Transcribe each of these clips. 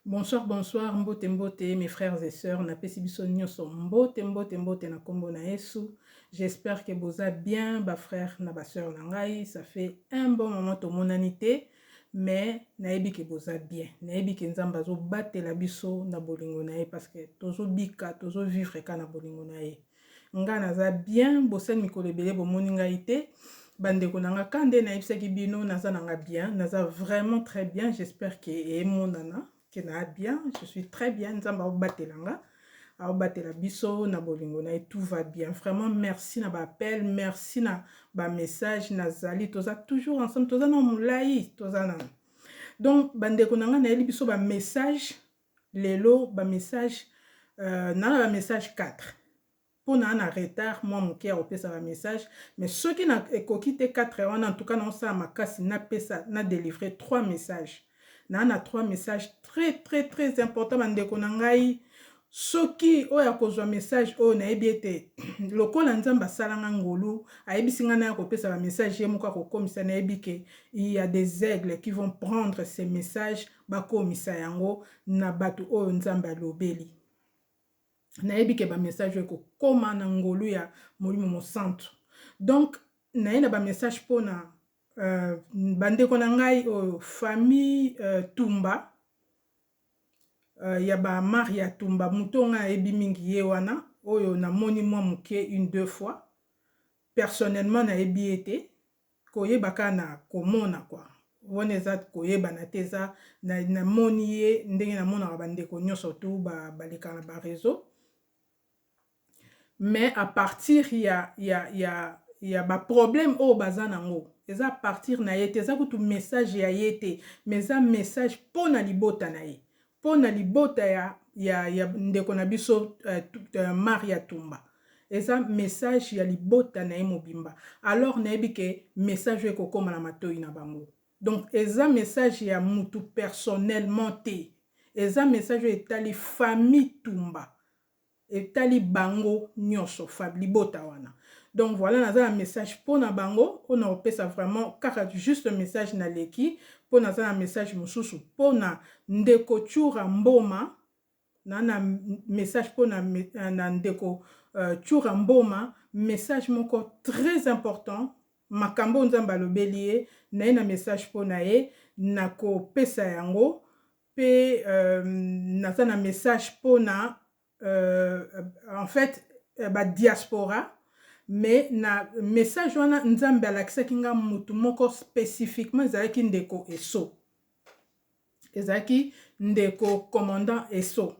Bonsoir bonsoir mbote mbote mes frères et sœurs na pesi biso nyoso mbote mbote mbote na kombo na Yesu j'espère que boza bien ba frères na ba sœurs na ngai ça fait un bon moment tomonani te mais nayebi ke boza bien nayebi ke nzambe azobatela biso na bolingo na ye parce que tozobika tozovivre ka na bolingo na ye Nga naza bien bosali mikolo ebele bomoni ngai te ba ndeko na nga ka nde nayebisaki bino naza na nga bien naza vraiment très bien j'espère que emonana que na bien je suis très bien nzambe aobatela nga aobatela biso na bolingo na ye tout va bien vraiment merci na baappel merci na bamessage nazali toza toujours ensemble toza na molai toza na donc bandeko na ngai nayeli biso bamessage Lelo ba message na na ba message 4 po na na retard mwa moke ya kopesa ba message mais soki na ekoki te 4 wana en tout cas nao sala makasi na pesa na delivrer 3 message na na 3 message très très très important ba ndeko na ngai soki oyo akozwa message oyo nayebi ete lokola nzambe asalanga ngolu ayebisi ngai naya kopesa ba message ye moko akokomisa nayebi ke il y a des aigles qui vont prendre ces messages bakomisa yango na batu oyo nzambe alobeli nayebi ke ba message oyo ekokoma na ngolu ya molimo mosantu donc naye na ba message pona uh, bandeko na ngai oyo famille uh, tumba uh, ya ba maria tumba moto ngai ayebi mingi ye wana oyo namoni mwa moke une deux fois personnellement nayebi ye te Koyeba kaka na komona quoi wana eza koyebana te eza na moni ye ndenge na monaka ba ndeko nioso tout ba baleka na ba reseaux mais à partir ya ya ya ya ba problème oyo baza na ngo eza à partir na ye te eza kutu message ya ye te mais eza message pona libota na ye mpo na libota ya ya ya ndeko na biso uh, Maria Tumba eza message ya libota na ye mobimba alors nayebi ke message oyo ekokoma na matoi na bango donc eza message ya mutu personnellement te eza message oyo etali famille Tumba Etali bango nionso fab libota wana donc voila naza na message pona bango oyo na kopesa vraiment kaka juste message na leki po naza na message mususu pona ndeko tshura mboma na na message pona na ndeko tshura mboma message moko très important makambo oyo nzambe alobeli ye naye na message pona ye na kopesa yango pe naza na message pona en fait ba diaspora mais na message wana nzambe alakisaki nga mutu moko specifiquement ezalaki ndeko Esso ezalaki ndeko commandant Esso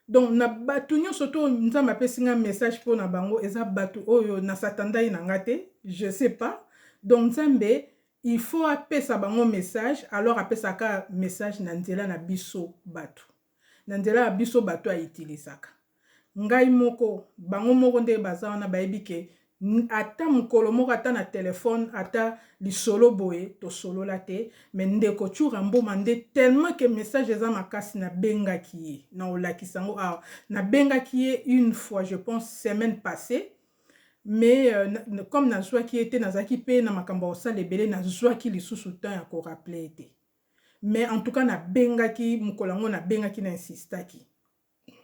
Donc na batu nionso to nzambe apesi nga message pona bango eza batu oyo na satandai na nga te je sais pas donc nzambe il faut apesa bango message alors apesa ka message na nzela na biso batu na nzela ya biso batu a utilisaka ngai moko bango moko nde baza wana bayebi ke ata mukolo moko ata na telephone ata lisolo boye tosolola te mais ndeko tshura mboma nde tellement que message eza makasi na bengaki ye nao lakisa yango awa na bengaki ye une fois je pense semaine passe mais comme na zwaki ye te nazalaki pe na makambo ya kosala ebele na zwaki lisusu temps ya ko rappeler ye te mais en tout cas na bengaki mukolo yango na bengaki na insistaki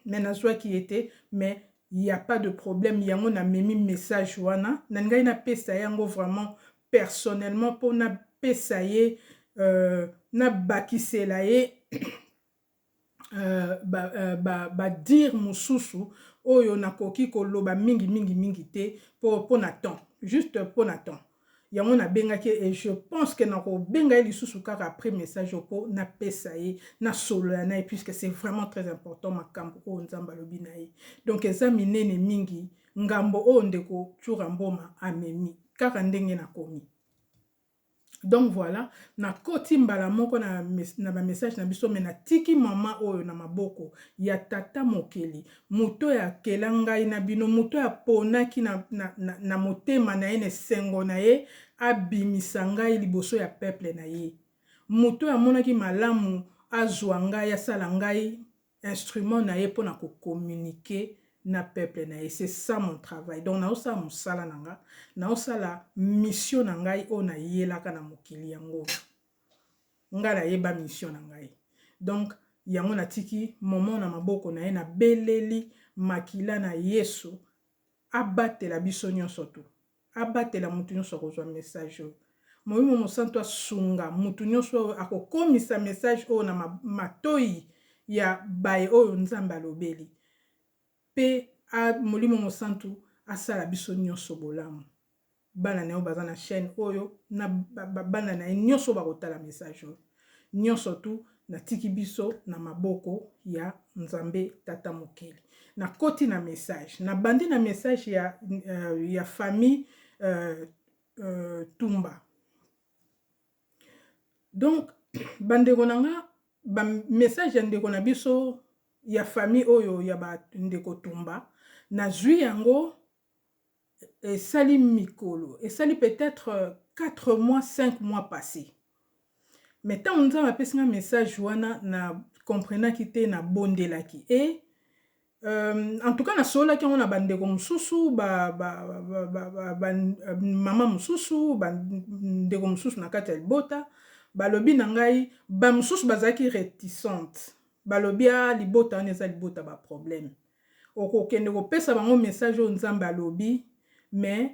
mais nazwaki ye te mais il y a pas de problème yango na memi message wana na ngai na pesa ye yango vraiment personnellement mpo na pesa ye euh, na bakisela ye euh, ba, euh, ba, ba dire mosusu oyo nakoki koloba mingi mingi mingi te mpo na temps juste mpo na temps Yango na bengaki ye et je pense que na ko benga ye lisusu kaka après message oyo po na pesa ye na solola na ye puisque c'est vraiment très important makambu oyo Nzambe alobi na ye. Donc eza minene mingi ngambo oyo ndeko Tshoura Mboma amemi kaka ndenge na komi. Donc voilà, na koti mbala moko na, na ba message na biso mais na tiki maman oyo na maboko ya tata mokeli. Moto oyo akela ngai na bino, moto oyo aponaki na, na, na, na motema na ye, na esengo na ye, abimisa ngai liboso ya peuple na ye. Moto oyo amonaki malamu azua ngai, asala ngai instrument na ye pona ko communiquer na peuple na ye. C'est ça mon travail. Donc nazosala mosala na nga, nazosala mission na ngai oyo nayelaka na mokili yango oyo. Nga na yeba mission na ngai donc yango na tiki Momon na maboko naye na beleli makila na yesu abatela biso nionso tu abatela mutu nionso ako zua message oyo molimo mosantu asunga mutu nionso oyo ako komisa message oyo na matoyi ya baye oyo nzambe alobeli pe a molimo mosantu asala biso nioso bolamu bana nayo baza na chaine oyo na ba bana naye nioso oyo bako tala message oyo nioso tout na tiki biso na maboko ya nzambe tata mokeli na koti na message na bandi na message ya ya famille euh, euh, tumba donc bandeko na nga ba message ya ndeko na biso ya famille oyo ya ba ndeko tumba nazwi yango esali mikolo esali peut-être 4 mois 5 mois passé mais ntango nzambe apesi nga message wana na comprenaki te na bondelaki e Euh, en tout cas nasololaki yango na bandeko mosusu ba, ba, ba, ba, ba, ba, mama mosusu bandeko mosusu na kati ya libota balobi na ngai bamosusu bazalaki réticente balobi a ah, libota wana eza libota baproblème okokende kopesa bango message oyo nzambe alobi mais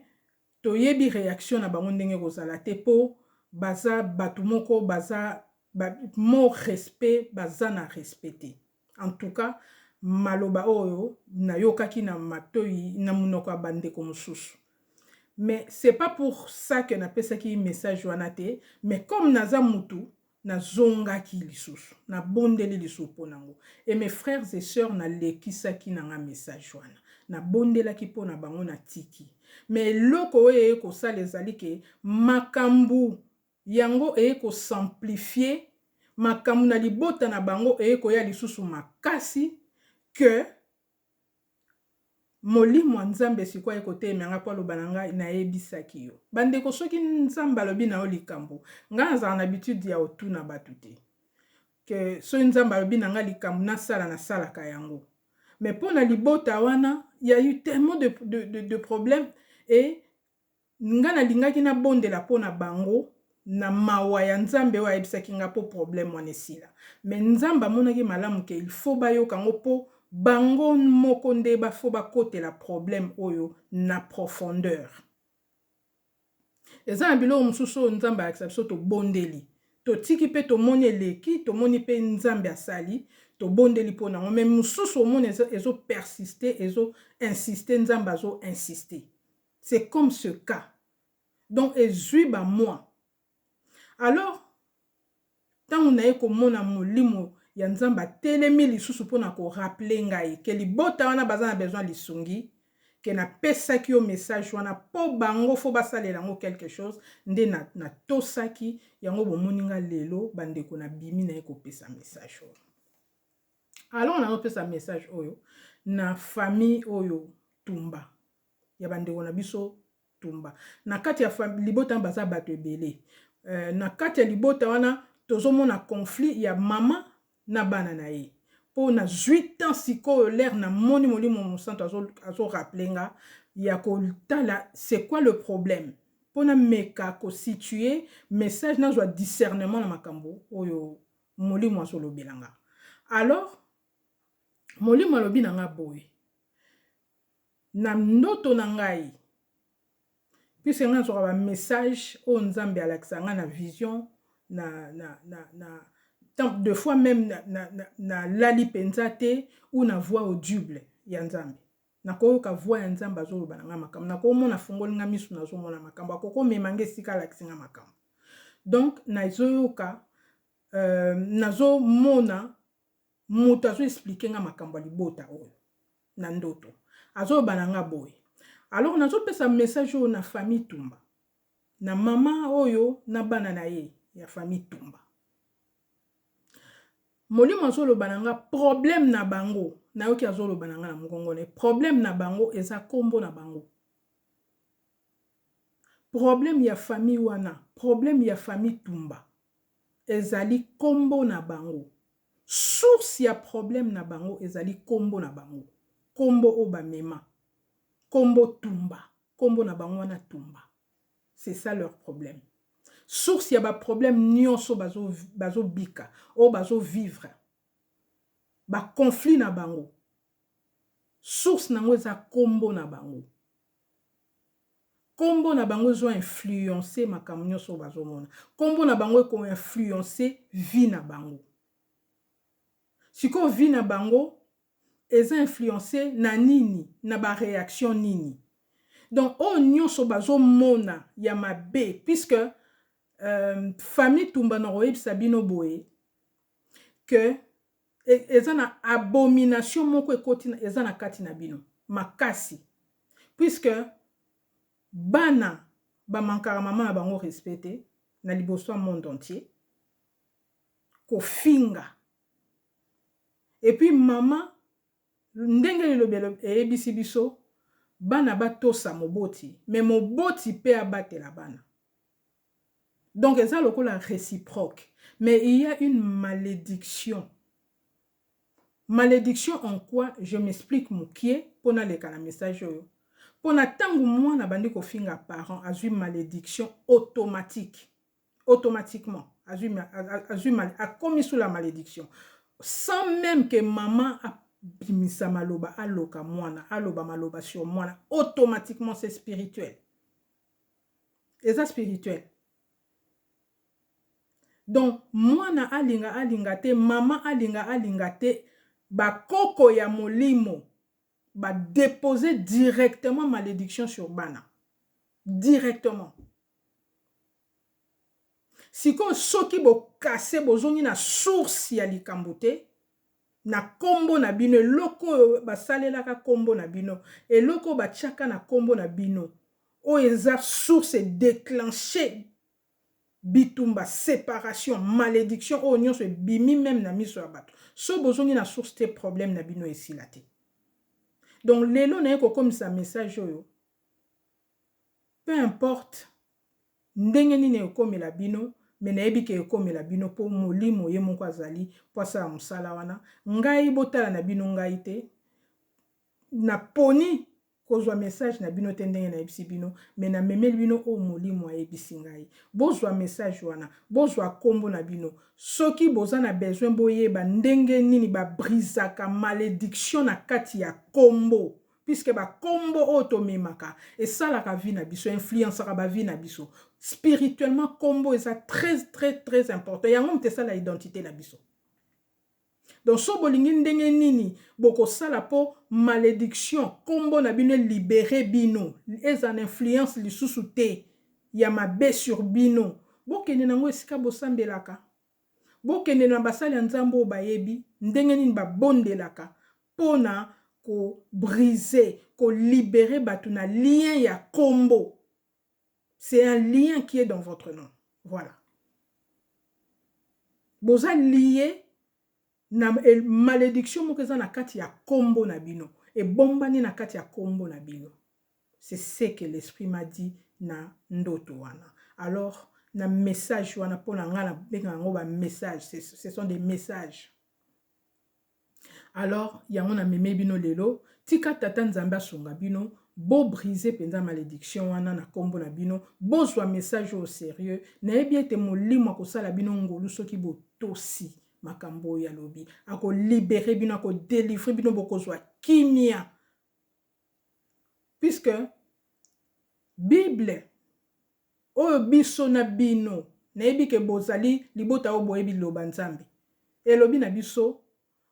Toyebi reaction na bango ndenge ekozala te po baza batu moko baza ba mot respect baza na respect te en tout cas maloba oyo nayokaki na matoyi na munoko ya ba ndeko mususu mais c'est pas pour ça que napesaki message wana te mais comme naza mutu Na zongaki lisusu, na bondeli lisusu po na ngo. Et mes frères et sœurs na lekisaki na nga message wana. Na bondelaki po na bango na tiki. Mais eloko oyo eye ko sala ezali ke makambu yango eye ko s'amplifier, makambu na libota na bango eye koya lisusu makasi que, Molimo ya Nzambe sikoyo aye kotelemela ngai mpo aloba na ngai, Nayebisaki yo. Bandeko, soki Nzambe alobi na yo likambo, ngai nazalaka na habitude ya kotuna bato te. Ke, soki Nzambe alobi na ngai likambo, nasala, nasalaka yango. Mais mpo na libota wana, il y a eu tellement de, de, de, de problèmes et Nga na lingaki na bondela po na bango na mawa ya Nzambe oyo ayebisaki nga po problème wana esila mais Nzambe amonaki malamu ke il faut ba yoka ngo po bango moko nde ba faut ba kotela problème oyo na profondeur. Eza na biloko mosusu oyo Nzambe alakisa biso to bondeli to tiki pe to moni eleki to moni pe Nzambe asali to bondeli po na ngo mais mosusu omona ezo persiste ezo insiste Nzambe azo insiste. C'est comme ce cas donc ezui ba mois alors tango naye komona molimo ya nzambe atelemi lisusu pona ko rappeler ngai ke libota wana baza na besoin lisungi ke na pesaki yo message wana po bango faut basalela yango quelque chose nde na na tosaki yango bomoni nga lelo bandeko na bimi naye kopesa message oyo alors na nopesa message oyo na famille oyo tumba ya ba ndeko na biso tumba na kati ya libota baza bato ebele euh, na kati ya libota wana tozomona conflit ya mama na bana na ye mpo na zwi temps sikoyo lere na moni molimo mosanto azoraple nga ya kotala c'est quoi le problème mpo na meka kositue message nazwa discernement na makambo oyo molimo azolobela nga alors molimo alobi na nga boye Na ndoto na ngai puisque ngai nazwaka ba message oyo nzambe alakisa ngai na vision na, na, na, na tant de fois meme na, na, na, na lali mpenza te ou na voix audible ya nzambe nakoyoka voix ya nzambe azoloba na ngai makambo nakomona afungoli ngai misu nazomona makambo akoki omema ngai esika alakisi ngai makambo donc nazoyoka euh, nazomona mutu azo explique nga makambo ya libota oyo na ndoto azo loba na nga boye alors nazo pesa message oyo na famille tumba na mama oyo na bana na ye ya famille tumba molimo azoloba na nga problème na bango nayoki azoloba na nga na mongongo na ye problème na bango eza nkombo na bango problème ya famille wana problème ya famille tumba ezali nkombo na bango Source ya problème na bango ezali kombo na bango. Kombo oyo ba mema. Kombo Tumba. Kombo na bango wana Tumba. C'est ça leur problème. Source ya ba problèmes nionso bazo bazo bika, oyo bazo vivre. Ba conflits na bango. Source na yango eza kombo na bango. Kombo na bango ezo influencer makambo nionso oyo bazo mona. Kombo na bango eko influencer vie na bango. Sikoyo vie na bango eza influencer na nini? Na ba reaction nini? Donc oyo nionso bazo mona ya mabe puisque famille Tumba nako yebisa bino boye que eza na abomination moko ekoti eza na kati na bino makasi puisque bana ba mankaka maman na bango respect te na liboso ya monde entier kofinga et puis maman ndenge lilobelo eyebisi biso bana batosa moboti mais moboti pe abatela bana Donc eza lokola reciproque mais il ya une malediction. Malediction en quoi je m'explique mukie po naleka na message oyo. Pona tango mwana abandi kofinga parent azui malediction automatique. Automatiquement azui azui akomi sous la malediction sans meme que maman a bimisa maloba aloka mwana aloba maloba sur mwana automatiquement c'est spirituel. eza spirituel donc mwana alinga alinga te mama alinga alinga te bakoko ya molimo ba depose directement malediction sur bana directement Sikoyo soki bo casser bozongi na source ya likambo te na kombo na bino eloko oyo ba salelaka kombo na bino eloko oyo ba tiaka na kombo na bino oyo eza source e declencher bitumba separation malediction oyo nionso ebimi meme na miso ya batu soki bozongi na source te problème na bino esila te donc lelo naye kokomisa message oyo peu importe ndenge nini ekomela bino mais nayebi ke ekomela bino po molimo ye moko azali po asala mosala wana ngai botala na bino ngai te na poni kozwa message na bino te ndenge nayebisi bino mais na memeli bino oyo molimo ayebisi ngai bozwa message wana bozwa kombo na bino soki boza na besoin boyeba ndenge nini ba brisaka malediction na kati ya kombo puisque ba kombo oyo tomemaka esalaka vie na biso influencaka ba vie na biso spirituellement kombo eza très très très important yango moto esala identité na biso donc so bolingi ndenge nini bokosala mpo malédiction nkombo na bino elibere bino eza na influence lisusu te ya mabe sur bino bokende na yango esika bosambelaka bokende na basali ya nzambe oyo bayebi ndenge nini babondelaka pona ko briser, ko liberer batu na lien ya kombo. C'est un lien qui est dans votre nom. Voilà. Boza lier na malédiction moko eza na kati ya kombo na bino. Ebombani na kati ya kombo na bino. C'est ce que l'esprit m'a dit na ndoto wana. Alors, na message wana pona nga na benga yango ba message. Ce sont des messages. Alors yango na meme bino lelo tika tata nzambe asunga bino bo brise penza malediction wana na kombo na bino bozua message oyo serieux na yebi ete molimo akosala bino ngolu soki bo tosi makambo oyo alobi ako libere bino ako delivre bino bokozua kimia puisque bible Oyo biso na bino, nayebi ke bozali libota oyo boyebi liloba Nzambe elobi na biso,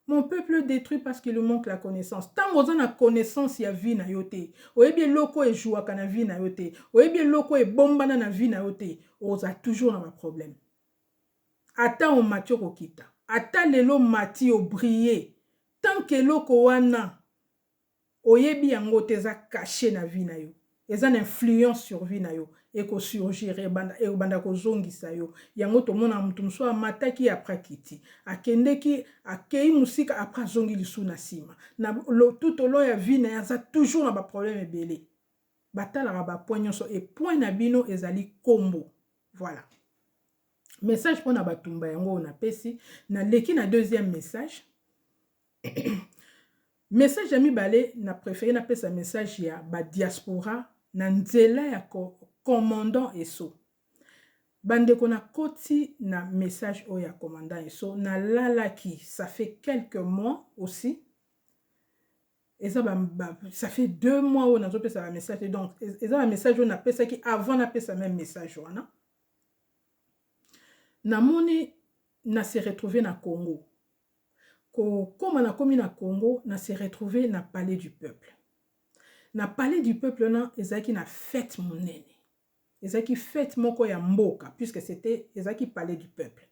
Mon peuple est detruit parce qu'il lui manque la connaissance. Tango oza na connaissance ya vie na yo te, oyebi eloko oyo e jouaka na vie na yo te, oyebi eloko oyo ebombana na vie na yo te, okozala toujours na ba problèmes. Ata omati okokita, ata lelo omati o briller, tant que eloko wana, Oyebi yango te eza cache na vie nayo eza na influence sur vie nayo eko surgir ebanda ekobanda kozongisa yo yango tomonaka mutu mosusu amataki après akiti akendeki akeyi musika après azongi lisusu na sima na tout au long ya vie naye aza toujours na ba problème ebele batalaka ba point nionso et point na bino ezali kombo voila message pona batumba yango oyo napesi naleki na deuxième message Message ya mibale na prefere na pesa message ya ba diaspora na nzela ya commandant Esso. Ba ndeko na koti na message oyo ya commandant Esso na lalaki ça fait quelques mois aussi eza ba, ba ça fait deux mois oyo nazo pesa ba message donc eza ba message oyo na pesaki avant na pesa même message wana namoni na se retrouver na Congo ko koma na komi na Congo na se retrouver na palais du peuple na palais du peuple wana ezalaki na fete monene ezalaki fete moko ya mboka puisque c'était ezalaki palais du peuple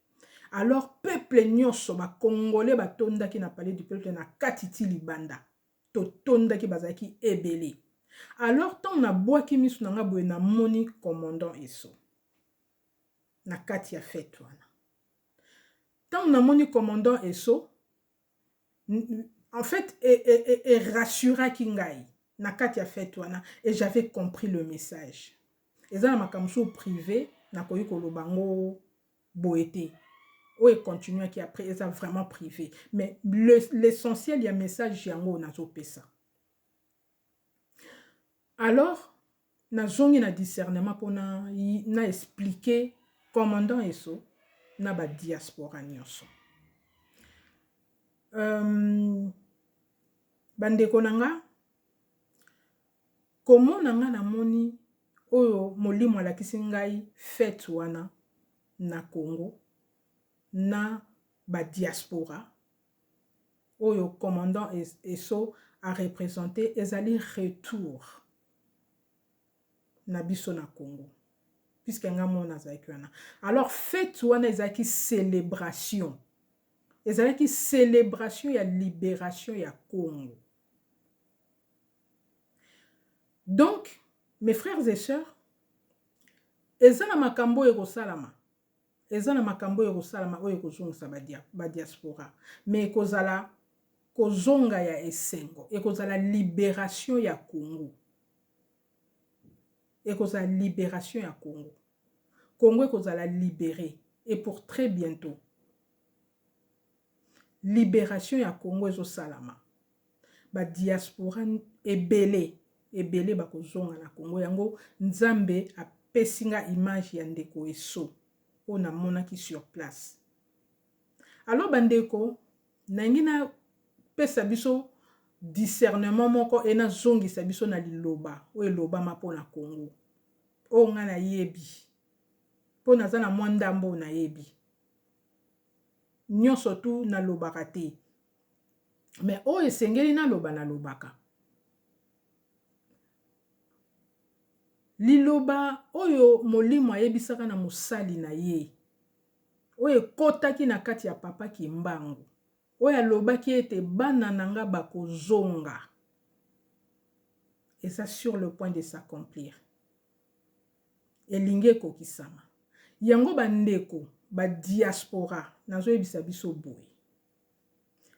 alors peuple nyonso ba congolais ba tondaki na palais du peuple na kati ti libanda to tondaki bazalaki ebele alors ntango nabwaki miso na ngai boye namoni commandant eso na kati ya fete wana Tango na moni commandant Esso, en fait e rassuraki ngai na kati ya fete wana et j'avais compris le message. Eza na makambo mosusu prive nakoki koloba yango boye te. Oyo e continuaki après eza vraiment prive mais l'essentiel ya message yango oyo nazopesa. Alors na zongi na discernement pona na explique commandant Esso na ba diaspora nioso. Euh, ba ndeko na nga komona nga na moni oyo molimo alakisi ngai fete wana na Congo na ba diaspora oyo commandant Esso a representer ezali retour na biso na Congo. Puisque nga mona azalaki wana. Alors fete wana ezalaki celebration. Ezalaki celebration ya liberation ya Congo. Donc, mes frères et sœurs, eza na makambo oyo ekosalama Eza na makambo oyo ekosalama oyo ekozongisa ba diaspora mais ekozala kozonga ya esengo, ekozala liberation ya Congo. Ekozala liberation ya Congo. Congo ekozala libere et pour très bientot. Liberation ya Congo ezosalama. ba diaspora ebele ebele bakozonga na Congo yango Nzambe apesi nga image ya ndeko Esso oyo namonaki sur place alors bandeko nalingi napesa biso discernement moko e nazongisa biso na liloba oyo elobama mpo na Congo oyo ngai nayebi mpo naza na mwa ndambo oyo nayebi nionso tout na lobaka te mais oyo esengeli na loba na lobaka liloba oyo molimo ayebisaka na mosali na ye oyo ekotaki na kati ya papa kimbangu oyo alobaki ete bana na nga bakozonga eza sur le point de s'accomplir elingi ekokisama. Yango ba ndeko ba diaspora nazo yebisa biso boye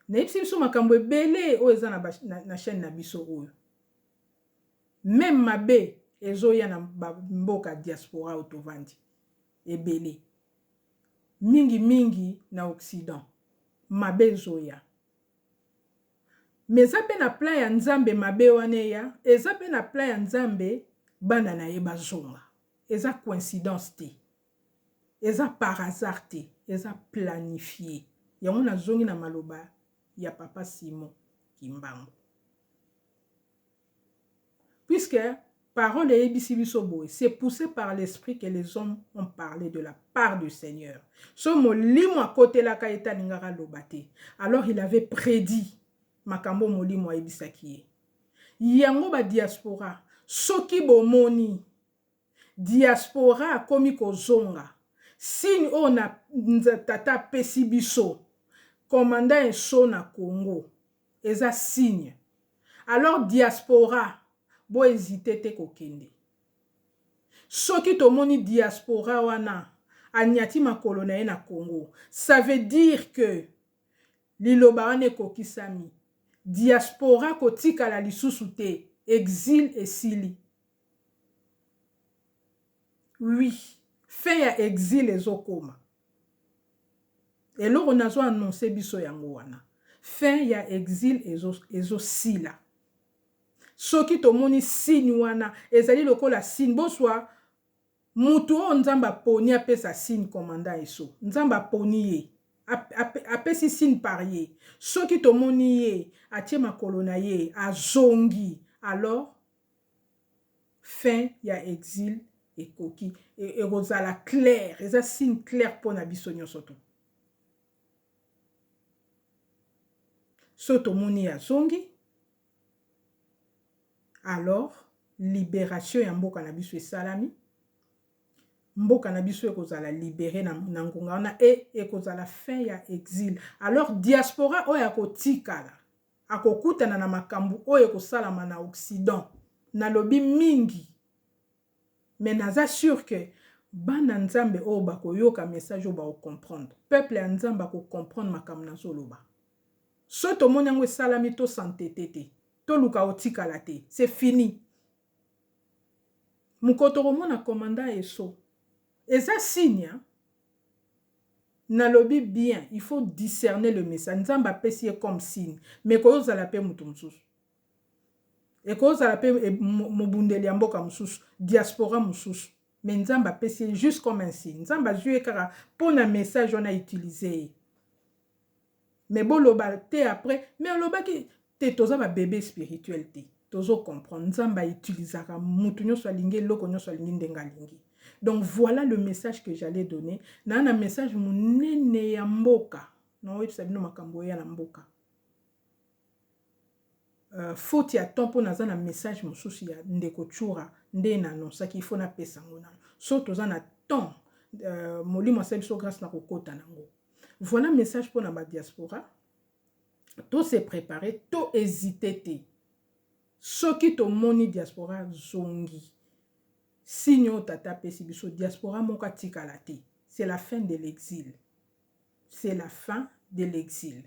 na yebisi biso makambo ebele oyo eza na, na, na chaîne na biso oyo meme mabe ezoya na mboka diaspora oyo tovandi ebele mingi mingi na occident mabe ezoya Mais eza pe na plan ya nzambe mabe wana eya eza pe na plan ya nzambe bana na ye bazonga eza coincidence te eza par hasard te eza planifie yango nazongi na maloba ya papa Simon kimbangu. Puisque parole eyebisi biso boye, c'est poussé par l'esprit que les hommes ont parle de la part du Seigneur. So molimo akotelaka ye te alingaka aloba te. Alors il avait prédit makambo molimo ayebisaki ye. Yango ba diaspora soki bomoni Diaspora akomi kozonga. Signe oyo na tata apesi biso. Commandant Esso na Congo. Eza signe. Alors Diaspora bo hesiter te kokende. Soki tomoni Diaspora wana anyati makolo na ye na Congo. Ça veut dire que liloba wana ekokisami. Diaspora kotikala lisusu te. Exil esili. Oui, fin ya exil ezokoma. Eloko nazo annoncer biso yango wana. Fin ya exil ezo ezo sila. Soki tomoni signe wana ezali lokola signe boswa mutu oyo Nzambe aponi apesa signe commandant eso. Nzambe aponi ye. Apesi signe par ye. Soki tomoni ye atie makolo na ye azongi alors fin ya exil ekoki ekozala claire eza signe claire mpo na biso nyonso to so tomoni azongi alors liberation ya mboka na biso esalami mboka na biso ekozala libere na, na ngonga wana e ekozala fin ya exil alors diaspora oyo akotikala akokutana na makambu oyo ekosalama na occident nalobi mingi mais naza sur que bana nzambe oyo bakoyoka message oyo bako comprendre peuple ya nzambe ako comprendre makambu nazoloba soki tomoni yango esalami to s'entete te toluka otikala te c'est fini Mokolo tokomona commandant Esso eza signe hein nalobi bien il faut discerner le message nzambe apesi ye comme signe mais ekozala pe mutu mususu ekozala pe mobundeli ya mboka mususu diaspora mususu mais nzambe apesi ye juste comme un signe nzambe azui ye kaka pona message wana utiliser ye Mais boloba te après mais olobaki te toza ba bebe spirituel te tozo comprendre nzambe a utilisaka mutu nionso alingi eloko nionso alingi ndenge alingi donc voilà le message que j'allais donner na na message munene ya mboka na oyebisa bino makambo oya na mboka Euh, faute ya temps mpo naza na message mosusu ya ndeko chura nde na anonsaki ifo napesa yango nano so toza na temps euh, molimo asali biso grâce na kokota nango Voilà message pona ba diaspora. To se préparer, to hésiter te. Soki to moni diaspora zongi. Signe tata pesi biso diaspora moka tikala te. C'est la fin de l'exil. C'est la fin de l'exil.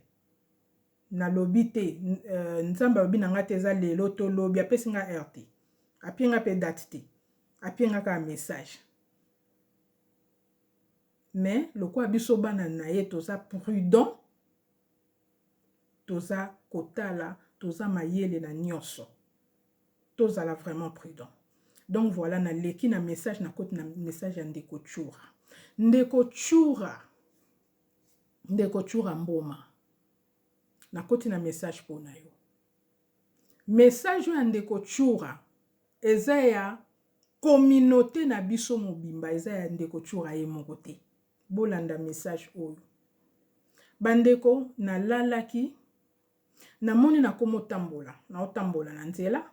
Nalobi te, euh, nzamba lobi na nga te eza lelo to lobi apesi nga heure te. Apie nga pe date te. Apie nga ka message. Mais lokola biso bana naye toza prudent toza kotala toza mayele na nionso tozala vraiment prudent donc voilà na leki na message na koti na message ya ndeko chura ndeko chura ndeko chura mboma na koti na message pona yo message oyo ya ndeko chura eza ya Communaute na biso mobimba eza ya ndeko Tshoura ye moko te. Bolanda message oyo. Ba ndeko na lalaki na moni na komo tambola, na otambola na nzela.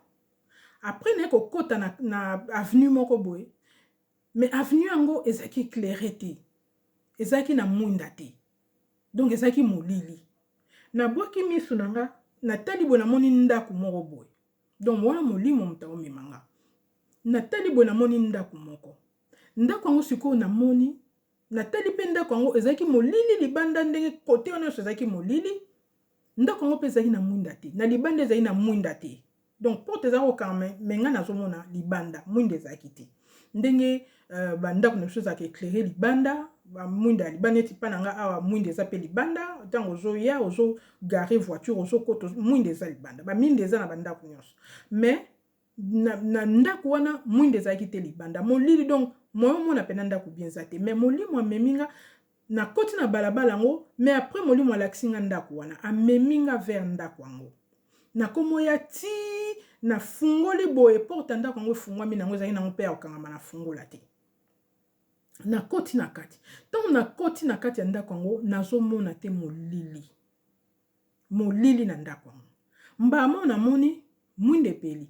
Après na ko kota na, na avenue moko boye. Mais avenue yango ezaki eclaire te. Ezaki na mwinda te. Donc ezaki molili. Na bwaki misu na nga, na tali boye na moni ndaku moko boye. donc wana molimo moto aomema nga natali boye namoni ndako moko ndako yango sikoyo namoni natali mpe ndako yango ezalaki molili libanda ndenge kote wana nyonso ezalaki molili ndako yango mpe ezalaki na mwinda te na libanda ezalaki na mwinda te donc porte eza kokanga me ngai nazomona libanda mwinda ezalaki te ndenge uh, bandako na biso ezalaka eclaire libanda mwinda ya libanda neti mpa na ngai awa mwinda eza mpe libanda ntango ozoya ozo gare voiture ozokota mwinda eza libanda baminde eza na bandako nyonso mais na, na ndako wana mwinda ezalaki te libanda molili donc moyo omona mpena ndako bien eza te mais molimo amemi nga Na koti na balabala yango mais après molimo alakisi nga ndaku wana amemi nga vers ndaku yango na komo ya ti na fungoli boye porte ya ndaku yango efungwami nango ezali nango pe ya kokangama na fungola te na koti na kati ntango na koti na kati ya ndako yango nazomona te molili molili na ndako yango mbala moko namoni mwinda epeli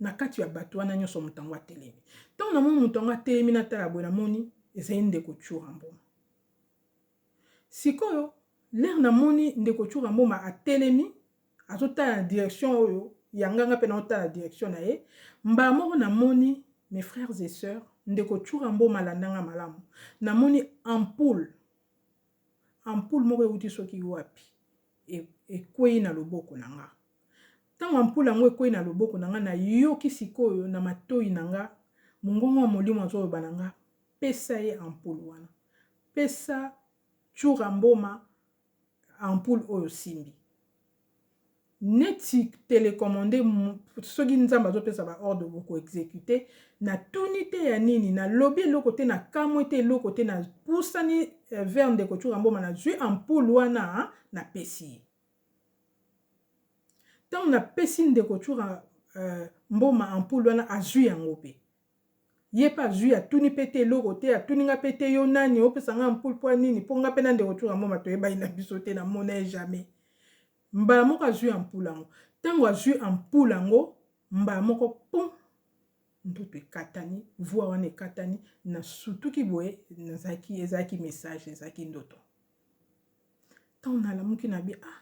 na kati ya bato wana nyonso moto yango atelemi. Ntango namoni moto yango atelemi natala boye, namoni ezali ndeko Tshura Mboma. Sikoyo lere namoni ndeko Tshura Mboma atelemi, azotala na direction oyo ya nganga mpe naotala direction na ye, mbala moko namoni mes frères et sœurs, ndeko Tshura Mboma alandanga malamu, namoni ampoule Ampoule moko euti soki wapi ekwei na loboko na nga. Ntango ampoule yango ekwei na loboko na nga, nayoki sikoyo na matoi na nga mongongo ya Molimo azoloba na nga, pesa ye ampoule wana, pesa Tshura Mboma ampoule oyo osimbi. neti telecommande soki nzambe azopesa ba ordre boko execute na tuni te ya nini na lobi eloko te na kamwe te eloko te na pusani eh, vers ndeko chura mboma na zui ampoule wana na pesi ye ntango na pesi ndeko chura uh, mboma ampoule wana azui yango pe Ye pe azui atuni pe te eloko te atuni nga pe te yo nani opesa nga ampoule po ya nini po nga pe na ndeko tshoura mboma toyebani na biso te na mona ye jamais mbala moko azui ampoule yango tango azui ampoule yango mbala moko pum ndutu ekatani voix wana ekatani na sutuki boye nazalaki ezalaki message ezalaki ndoto ntango nalamuki na bi ah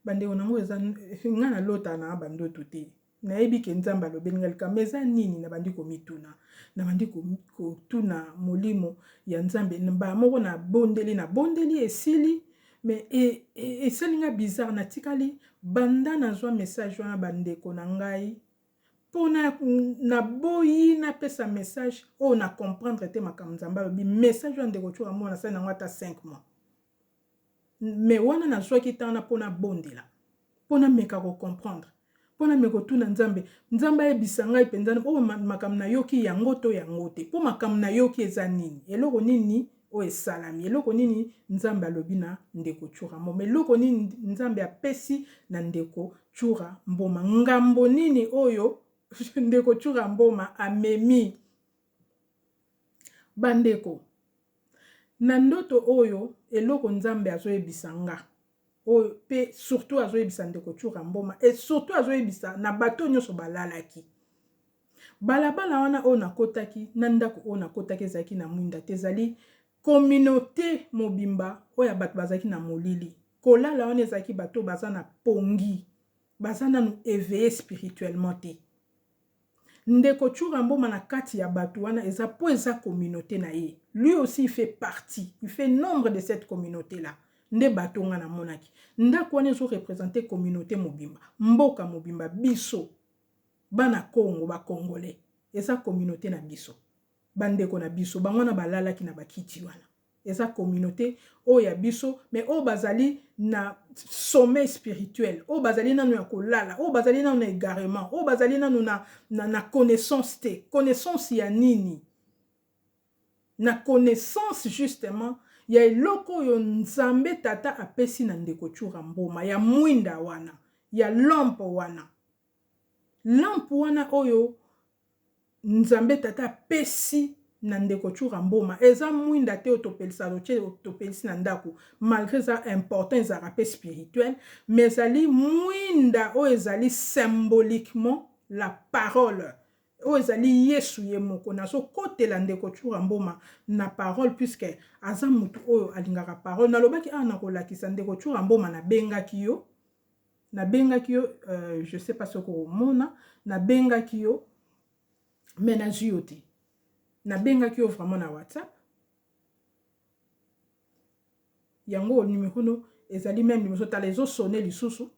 Bandeko na ngo eza nga na lota na ba ndoto te. Nayebi ke Nzambe alobeli nga likambo eza nini na bandi komituna. Na bandi kotuna molimo ya Nzambe mbala moko na bondeli na bondeli esili mais e, e, esali nga bizarre natikali banda nazwa message wana bandeko na ngai mpo naboyi napesa message oyo na comprendre te makambo nzambe alobi message oyo ndeko coka mwana asali nango ata 5 mois Mais wana nazwaki temps na po nabondela, po nameka ko comprendre, po nameka kotuna Nzambe, Nzambe ayebisa ngai penza oyo makambo nayoki yango to yango te? Po makambo nayoki eza nini? Eloko nini oyo esalami? Eloko nini Nzambe alobi na ndeko Tshoura Mboma? Eloko nini Nzambe apesi na ndeko Tshoura Mboma? Ngambo nini oyo ndeko Tshoura Mboma amemi Ba ndeko na ndoto oyo eloko nzambe azo yebisa nga oyo pe surtout azo yebisa ndeko tshoura mboma et surtout azo yebisa na bato oyo nionso ba lalaki balabala wana oyo na kotaki na ndaku oyo na kotaki ezalaki na mwinda te ezali communaute mobimba oyo ya bato bazalaki na molili kolala wana ezalaki bato baza na pongi baza nanu eveille spirituellement te Ndeko tshoura mboma na kati ya batu wana eza po eza communaute na ye lui aussi il fait partie il fait nombre de cette communaute là nde bateau nga na monaki ndaku wana ezo representer communaute mobimba mboka mobimba biso bana congo ba congolais eza communaute na biso ba ndeko na biso bango wana ba lalaki na ba kiti wana eza communaute oyo ya biso mais oyo bazali na sommeil spirituel oyo bazali nanu ya kolala oyo bazali nanu na egarement oyo bazali nanu na, na, na connaissance te connaissance ya nini na connaissance justement ya eloko oyo nzambe tata apesi na ndeko chura mboma ya mwinda wana ya lompo wana Lampe wana oyo Nzambe Tata apesi na ndeko Tshoura Mboma eza mwinda te oyo topelisaka totie topelisi na ndako malgre eza important ezalaka pe spirituel mais ezali mwinda oyo ezali symboliquement la parole oyo ezali Yesu ye moko nazokotela ndeko Tshoura Mboma na parole puisque aza mutu oyo alingaka parole nalobaki awa nakolakisa ndeko Tshoura Mboma nabengaki yo nabengaki yo euh, je sais pas soki omona nabengaki yo me nazwi yo te nabengaki yo vraiment na whatsapp yango numero no ezali meme numero ozotala ezosone lisusu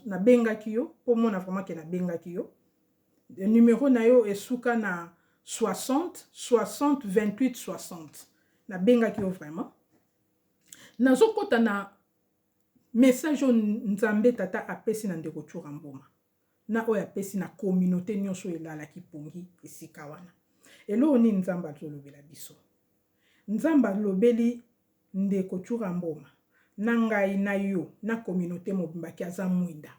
nabengaki yo mpo omona vraiment ke nabengaki yo numero na yo esuka na 60 60 28 60 nabengaki yo vraiment nazokɔta na Message oyo Nzambe Tata apesi na ndeko Tshoura Mboma na oyo apesi na communaute nionso oyo elalaki pongi esika wana. Eloko nini Nzambe azo lobela biso? Nzambe alobeli ndeko Tshoura Mboma na ngai na yo na communaute mobimba ke aza mwinda,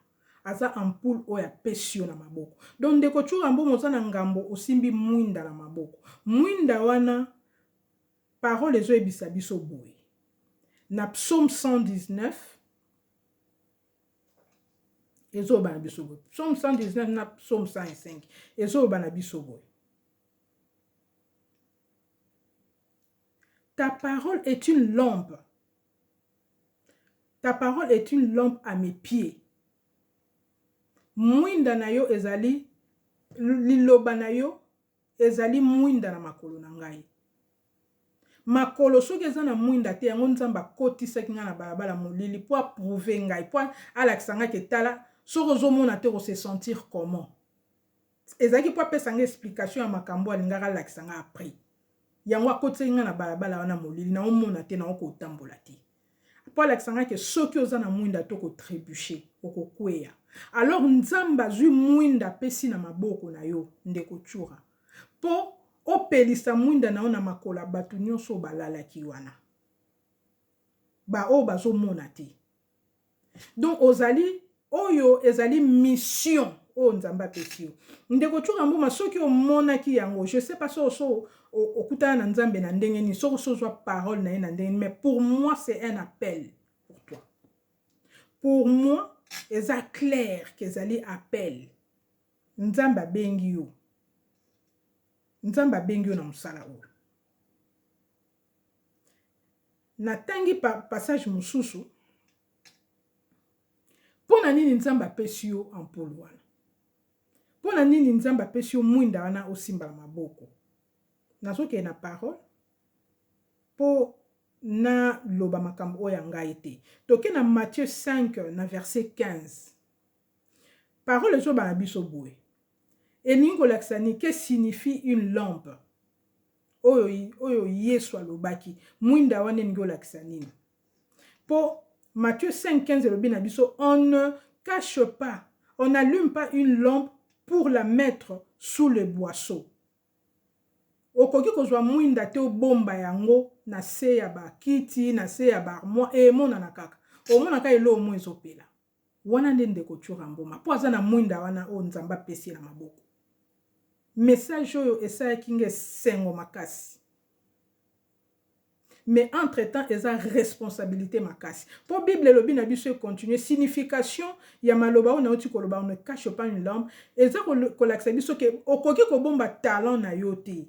aza ampoule oyo apesi yo na maboko. Donc ndeko Tshoura Mboma oza na ngambo osimbi mwinda na maboko. Mwinda wana. Parole ezoyebisa biso boye na psaume 119 ezoloba na biso boye psaume 119 na psaume 105 ezoloba na biso boye ta parole est une lampe ta parole est une lampe à mes pieds mwinda na yo ezali liloba na yo Ezali mwinda na makolo na ngai. Makolo soki eza na mwinda te, yango Nzambe akotisaki ngai na balabala molili po a prouver ngai, po alakisa ngai ke tala soki ozo mona te oko se sentir comment? Ezalaki po apesa ngai explication ya makambu oyo alingaki alakisa ngai après. Yango akotisaki ngai na balabala wana molili, nao mona te, nao kotambola te. mpo alakisa ngai ke soki oza na mwinda to ko trebuche okokweya alors nzambe azwi mwinda apesi na maboko na yo ndeko tshura mpo opelisa mwinda na yo na makolo ya bato nyonso oyo balalaki wana baoyo bazomona te Donc ozali oyo ezali mission oyo Nzambe apesi yo. Ndeko Chunga Mboma soki omonaki yango, je sais pas so so okutana na Nzambe na ndenge nini, soki so zwa parole na ye na ndenge nini, mais pour moi c'est un appel pour toi. Pour moi eza clair qu'ezali appel. Nzambe abengi yo. Nzambe abengi yo na mosala oyo. Na tangi pa passage mususu pona nini nzambe apesi yo ampoule wana? Pona nini nzambe apesi yo muinda wana osimba na maboko? Nazo kende na parole po na loba makambo oyo ya ngai te. Toke na Matthieu 5 na verset 15. Parole ezo loba na biso boye. Elingi kolakisa nini? Que signifie une lampe? oyo oyo yesu alobaki mwinda wana elingi olakisa nini po Matthieu 5 15 elobi na biso on ne cache pas on n'allume pas une lampe pour la mettre sous le boisseau. Okoki kozwa mwinda te obomba yango na se ya bakiti, na se ya barmoire, emonana kaka. Omona kaka eloko moko ezopela. Wana nde ndeko Tshura Mboma po aza na mwinda wana oyo Nzambe apesi ye na maboko. Message oyo esalaki nga esengo makasi. Mais entre temps eza responsabilite makasi. Po bible elobi na biso e continuer signification ya maloba oyo nauti koloba on ne cache pas une lampe eza kolakisa biso ke okoki kobomba talent na yo te.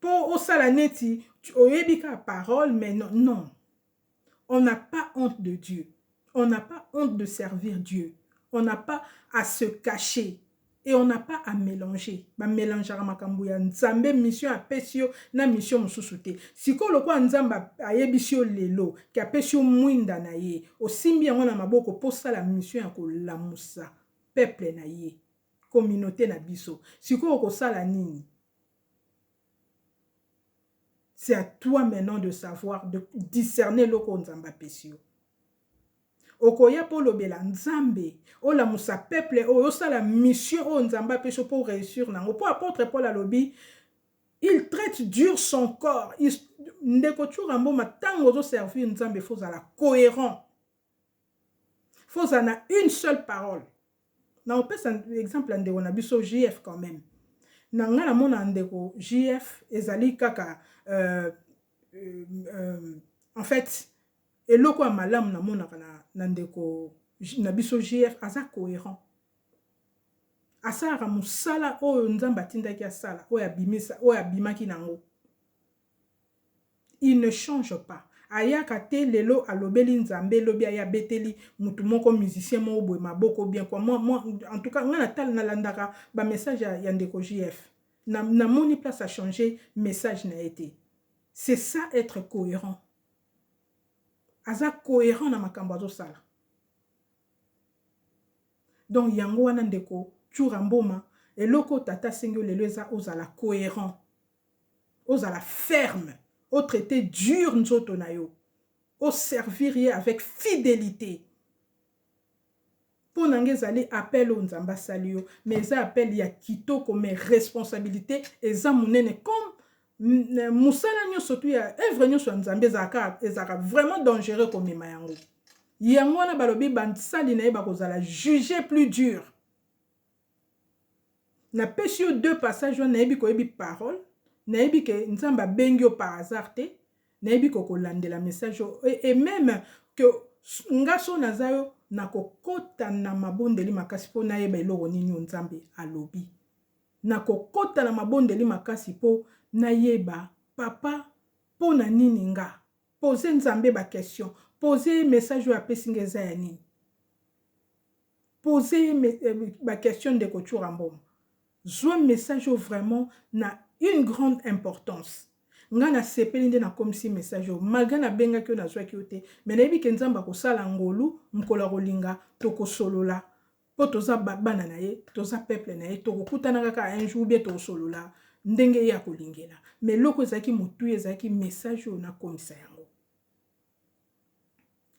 Po osala neti oyebi kaka parole mais non non on n'a pas honte de Dieu on n'a pas honte de servir Dieu on n'a pas à se cacher et on n'a pas à melanger ba melangeaka makambu ya Nzambe mission apesi yo na mission mususu te sikoyo lokola Nzambe ayebisi yo lelo que apesi yo muinda na ye osimbi yango na maboko po osala mission ya kolamusa peuple na ye. communaute na biso sikoyo okosala nini? C'est à toi maintenant de savoir, de discerner eloko oyo Nzambe apesi yo. Okoya mpo olobela Nzambe, olamusa peuple oyo, osala mission oyo Nzambe apesi yo mpo oreussir na yango. Mpo apôtre Paul alobi, il traite dur son corps. Ndeko Tshura Mboma, ntango ozoservir Nzambe, il faut ozala cohérent. faut ozala na une seule parole na opesa exemple ya ndeko na biso jf quand même na ngai namona ndeko jf ezali kaka euh, euh, euh, en fait eloko ya malamu namonaka na, na ndeko na biso jf aza cohérent asalaka mosala oyo nzambe atindaki asala oyo abimaki na yango il ne change pas ayaka te lelo alobeli nzambe lobi aya abeteli mutu moko musicien moko boye maboko ou bien quoi moi moi en tout cas nga na landaka ba message ya ya ndeko JF na na moni place a change message na ye te c'est ça etre coherent aza coherent na makambo azo sala donc yango wana ndeko Tshoura Mboma eloko tata asengi yo lelo eza ozala coherent ozala ferme o traite dur nzoto na yo o servir ye avec fidelite mpo na nga ezali appel oyo nzambe asali yo mais eza appel ya kitoko mais responsabilite eza monene comme mosala nyonso tu ya œuvre nyonso ya nzambe ezalaka ezalaka vraiment dangereux komema yango yango wana balobi basali na ye bakozala juge plus dur Na pesi yo deux passage wana nayebi koyebi parole nayebi ke nzambe abengi yo par hasard te nayebi ko kolandela message oyo et meme que nga soki naza yo na kokota na mabondeli makasi po nayeba eloko nini oyo nzambe alobi na kokota na mabondeli makasi po nayeba papa po na nini nga pose nzambe ba question pose ye message oyo apesi nga eza ya nini Poser ye ba questions ndeko Tshoura Mboma. Zwa message oyo vraiment na une grande importance. Nga na sepeli nde na komisi message oyo malgre na bengaki yo nazwaki yo te mais na yebi ke Nzambe akosala ngolu mokolo akolinga toko solola po toza ba bana na ye toza peuple na ye toko kutana kaka un jour ou bien toko solola ndenge ye akolingela mais eloko ezalaki motuya ezalaki message oyo na komisa yango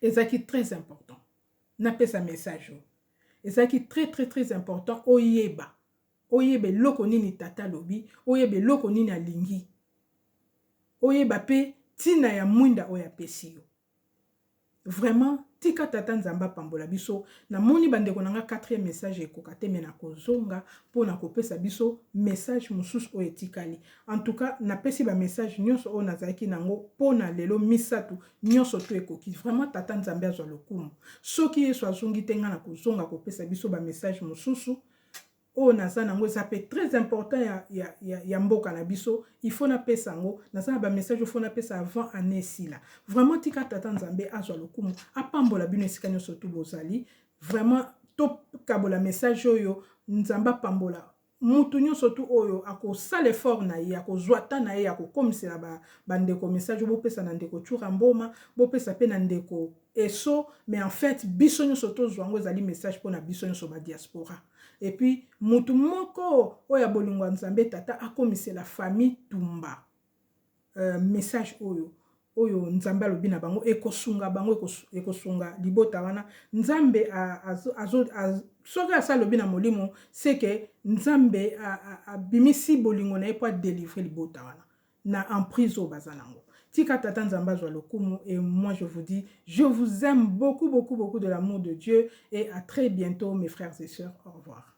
ezalaki très important napesa message oyo ezalaki très très très important oyeba oyeba eloko nini tata alobi oyeba eloko nini alingi oyeba mpe ntina ya mwinda oyo apesi yo vraiment tika tata nzambe apambola biso namoni bandeko na nga 4e message ekoka te me nakozonga mpo na kopesa biso message mosusu oyo etikali En tout cas napesi ba message nionso oyo nazalaki nango pona lelo misatu nionso tout ekoki vraiment tata nzambe azwa lokumu soki yesu azongi te nga nakozonga kopesa biso ba message mosusu oyo naza nango eza mpe très important ya, ya, ya, ya mboka na biso il faut napesa yango naza na bamessage oyo faut napesa avant année esila vraiment tika tata nzambe azwa lokumu apambola bino esika nyonso tu bozali vraiment tokabola message oyo nzambe apambola Mutu nionso tout oyo ako sala effort na ye, ako zua temps na ye ya ko komisela ba ba ndeko message, bo pesa na ndeko Tshoura Mboma, bo pesa pe na ndeko Esso, mais en fait biso nionso to zua yango ezali message pona biso nionso ba diaspora. Et puis mutu moko oyo ya bolingo ya Nzambe Tata akomisela famille Tumba. euh, message oyo oyo nzambe alobi na bango ekosunga bango ekosunga libota wana nzambe soki asi alobi na molimo seke nzambe abimisi bolingo na ye mpo adelivre libota wana na emprise oyo baza nango tika tata nzambe azwa lokumu et moi je vous dis je vous aime beaucoup beaucoup beaucoup de l'amour de dieu et à très bientôt mes frères et sœurs au revoir